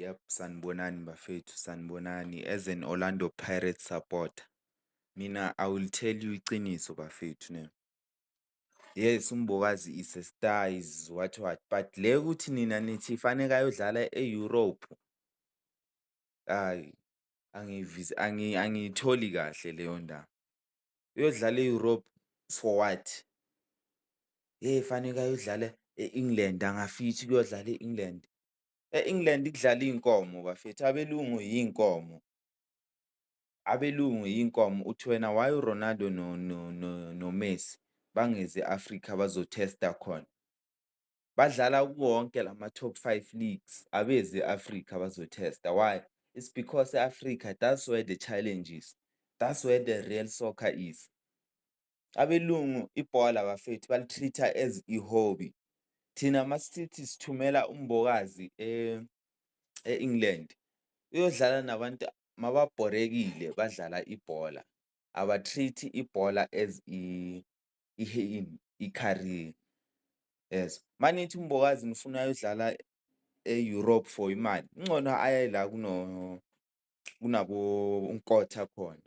Yep, sanibonani bafethu sanibonani as an Orlando Pirates supporter mina I will tell you iciniso bafethu ne. Yes, uMbokazi is a star is what what but le ukuthi nina nithi faneke ayodlala e-Europe ayi angiyitholi kahle leyo ndaba. uyodlala e-Europe for what? Hheyi faneke ayodlala e-England, angafithi ukuyodlala e-England. E-England kudlala iy'nkomo bafethu, abelungu iy'nkomo, abelungu iy'nkomo. Uthi wena why uRonaldo noMessi bangezi e-Afrika bazothesta khona? Badlala kuwonke lama top five leagues abezi e-Africa bazo tester. Why? It's because e-Africa that's where the challenge is, that's where the real soccer is. Abelungu ibhola bafethu bali-treat-a as i-hobby. Thina masithi sithumela uMbokazi e-England uyodlala nabantu mababhorekile badlala ibhola, aba-treat-i ibhola as iheyini i-career yezwa. Uma nithi uMbokazi nifuna ayodlala e-Europe for imali, kungcono aye la kuno kunabo uNkotha khona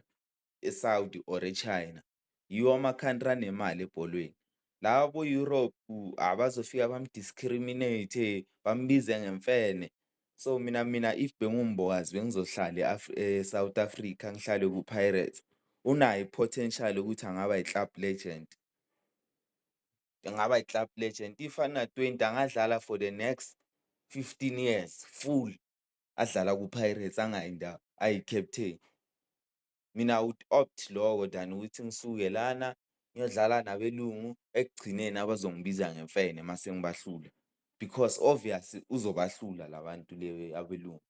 e-Saudi or e-China. Yiwo ama-country anemali ebholweni. Lawa bo-Europe abazofika bamu-discriminate, bambize ngemfene. So mina mina if benguMbokazi bengizohlala eSouth Africa ngihlale kuPirates. Unayo i-potential ukuthi angaba yi-club legend. Angaba yi-club legend if ana-twenty angadlala for the next fifteen years full adlala kuPirates angayi ndawo ayi-captain. mina I would opt loko than ukuthi ngisuke lana ngiyodlala nabelungu ekugcineni abazongibiza ngemfene mase ngibahlula because obvious uzobahlula la bantu le abelungu.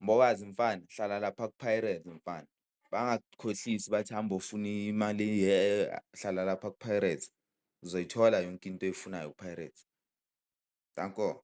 Mbokazi mfana hlala lapha ku-Pirates mfana, bangakukhohlisi bathi hamba ofuna imali hlala lapha ku-Pirates uzoyithola yonke into oyifunayo ku-Pirates. Danko.